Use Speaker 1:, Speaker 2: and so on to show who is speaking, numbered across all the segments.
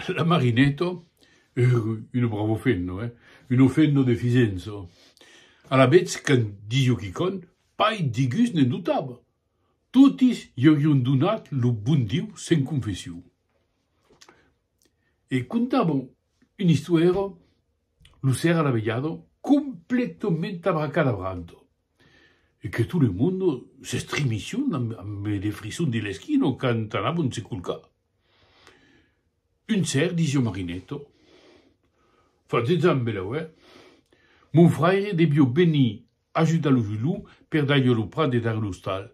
Speaker 1: La Marineto, un bravo fenno, un fenno de Fisenzo, alavetz qu'en Diu quicòm pas di gust ne dotava, totis i aurion donat lo bon Diu sen confession. E contava un istuèro, lo sèra lavelhado, completament abracadabranto, e que tot lo monde s'estremicion amb de frissons de l'esquino quand anavon se colcar. Un ser disió Marinetto, Fa deus ans belauè, mon fraire debió venir ajudar lo Julou per dar-ió lo prat de dar l'ostal.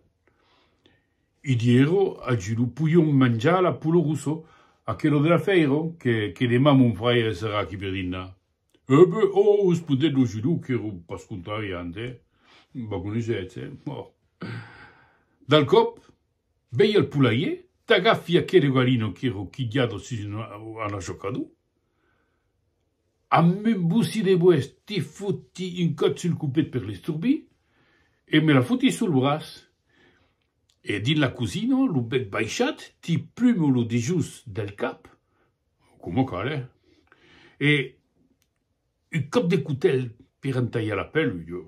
Speaker 1: I diéro al Julou, Poion manjar l'apollo russo, aquelo de la fèira, que demà mon fraire serà aquí per dinar. Eh be, oh, respondèt lo judeu qu'èra pas contrari a andèr, vagoniz hètge, oh. Dal còp, vei al polaier, t'agafi aquere galino qu'èra quilhada sus un anachocador, amb un bocí de boès te foti un còt sul copet per l'estorbir e me la foti sul braç. E dins la cosina, lo bèc baishat, ti plumo lo dejós del cap, Coma cal, eh? E un còp de cotèl per entalhar la pèl, jo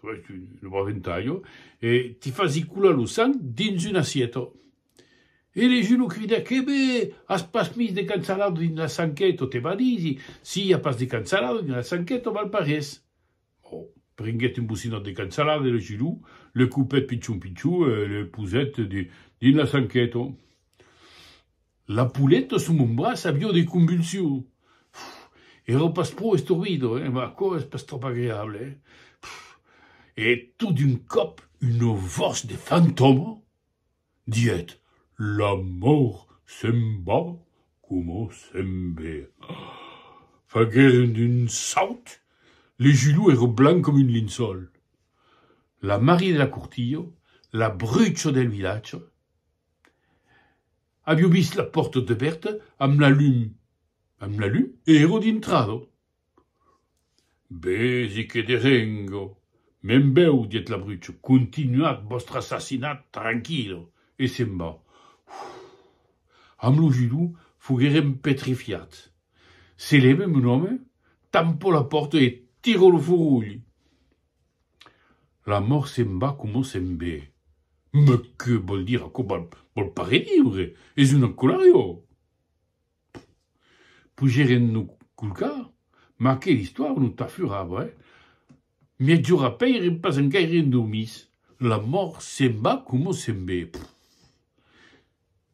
Speaker 1: faig un bròf entalho, e ti fasi colar lo sang dins una assieta. E le Julo crida, Que be! As pas mis de cansalada dins la sanqueta, te valisi, si i a pas de cansalada dins la sanqueta val pas res. Oh, prenguèt un bocinòt de cansalada e lo gilou, le coupèt pichon pichon e le posèt dins la sanqueta. La pouleta sus mon braç avió de convulsions. Èra pas pro estorbida, eh? Mas aquò es pas tròp agreable, eh? E tot d'un còp, una votz de fantòma. die't, l'amor se'n va coma se'n ve. Fagueren un saut, le julho ère blanc com un linçòl. La Marie de la Courtillo, la brucha del vilatge, avió vist la pòrta debèrta amb la lum, amb la lum, ère dintrado. Vesi que de rengo, me'n bèu, dièt l'abruço, continuatz vòstre assassinat tranquilo, e se'n va. Amb lo judo foguèrem petrifiats. Se lève mon òme, tampo la pòrta e tiro lo forolh. La mòrt se'n va coma se'n ve. Mès que vòl dire aquò? Vòl pas rediure, es un encolarriò! Pogeren lo colcà, mas que l'istòria non tà furà avrai. Miègjora pèirem pas engaire endormits, la mòrt se'n va coma se'n ve.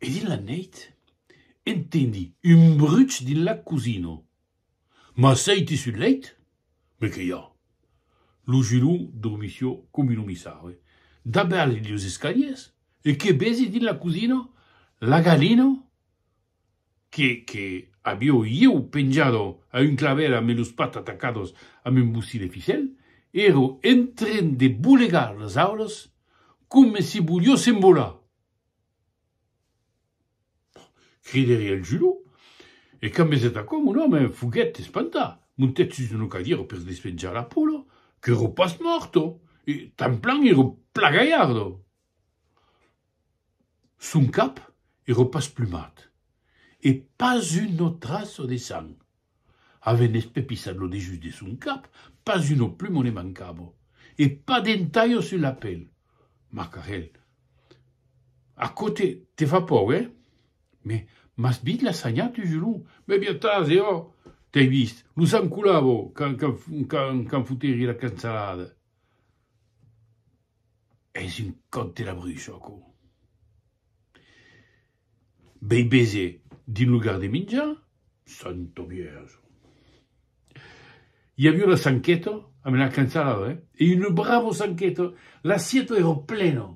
Speaker 1: E dins la nèit entendi un bruch dins la cosina. M'asseiti sul lèit, me que i a? Lo Julon dormissió com un omissari dabèrt los escaliers e que vesi dins la cosina la galina Que, que avió ieu penjado a un claver ambe los pats atacados amb un bocí de ficèl, èro entren de bolegar los aules coma si volió s'envolar! Cridèri al Julò, e quand vesèt aquò, mon òme, foguèt espantat, montèt sus una cadièra per despenjar la pola, qu'èro pas mòrta, e tanplan èro plagalharda! Son cap ero pas plumat, e pas uno traço de sang. Avent espepissat lo dejus de son cap, pas uno plumo ne mancabo, e pas d'un talho sus la pel. Macarel. Aquò te, te fa paur, eh? Me, m'as vist la sanhar tu, Julon? Me, bien tàs, e òc! T'ai vist, lo sang colavo, quand, quand, quand, quand foteri la cansalada. Es un còp de la brush, aquò. Bèi bese dins lo gardeminjar, santa Vierja! I aviá una sanqueta, a me la cançalava, eh? E una brava sanqueta, l'assieta èra plena!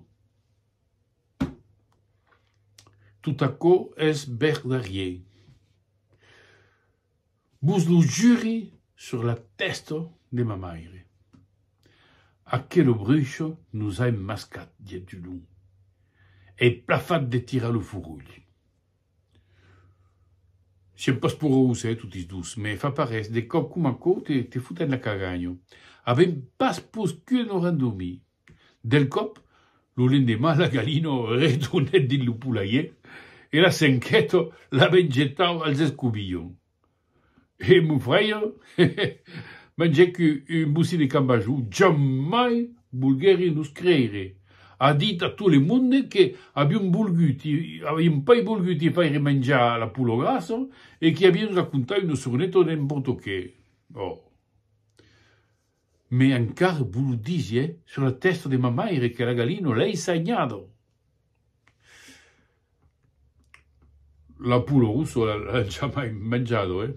Speaker 1: Tot aquò es verdarier. Vos lo juri sur la tèsta de ma maire. Aquelo brucho nos a emmascat, dièt Dulon. Ei plafat de tirar lo forolh. Siem pas porós, eh, totis dos, me fa parés, de còp coma quò te foten la cagagna. Avem pas poscut nos rendormir. Del còp, lo lendemà la galina retornèt dins lo polaier e la senheta la ven jetar als escobilhons. E mon fraire? mangèc un bocí de cambajou, jamai volguèri nos creire, a dit a tot le monde que avion volgut, avion pas volgut i faire manjar la pola grassa e que avion racontat una sorneta d'en portoquè. Ò! Me encara vos lo disié sur la testa de ma maire que la galina l'ei sagnada. La poula rossa l'an jamai manjada e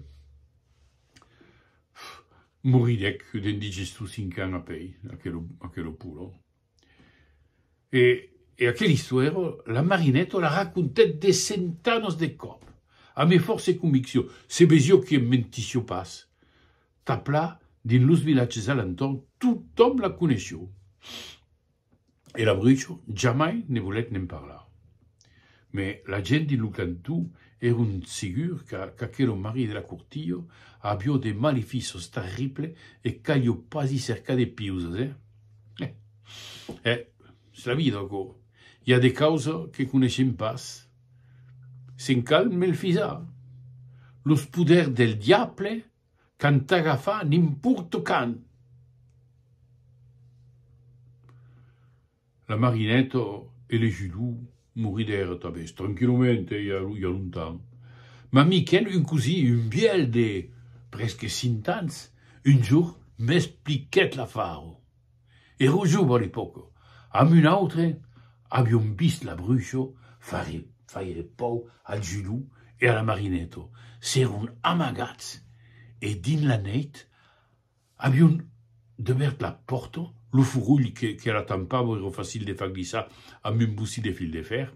Speaker 1: moridec d'indigestus cinq ans apei, aquela poula. E e aquel istuèro, la Marinèto la racontèt de centanas de còp, a me fòrce conviccion, se ves jo qu'i em mentission pas. Taplà, dins los vilatges a l'entorn, totòm la coneission. E l'Abruço jamai ne volèt ne'n parlar. Mes la gent dins lo cantó èron segur qu'aquelo marit de la Curtillo avió de malefiços terribles e qu'alió pas i cercar de piusas, eh? Eh! Eh! Es la vida, aquò. I a de causas que coneishem pas. Se'n cal melfisar. Los poders del diable qu'an t'agafar nimporte quand! La Marineta e le Judú moridèra tanben, tranquillament, hè, i a lo, i a lontan. Ma Miquèl, un cosí, un vièlh de presque cint ans, un jorn m'expliquèt l'afar. Èra jove a l'epòca, amb un autre avión vist la Brucho faire, faire pau al Judú e a la Marineta. S'èron amagats e dins la nèit Avion debèrt la pòrta, lo forolh que la tampava èra facil de far glissar amb un bocí de fil de fèr.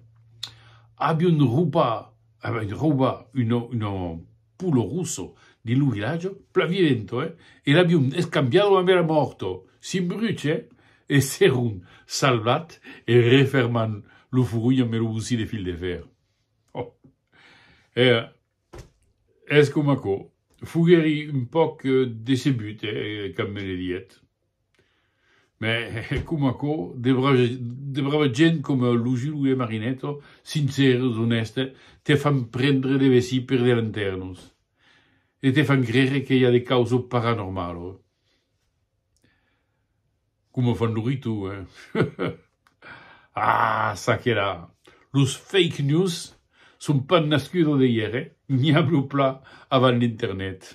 Speaker 1: Avion raubat una pula rossa dins lo vilatge, plan vivent, eh? E l'avion escambiada amb era mòrt, sin bruch, eh? E s'èron salvat en refermant lo forolh amb lo bocí de fil de fèr. Òh! Era Es coma aquò. Foguèri un pauc decebut quand me le dièt. Mès coma aquò, de de brava gent coma lo Zulu e Marinetto, sincèrs, onèstes, te fan prendre de vesir per de lantèrnos e te fan crere que i a de causo paranormalo. Coma fan lo ritu, eh? Ah, ça que la! Los fake news son pas nascudos de ièr, eh? N'i a lo pla avant l'internet.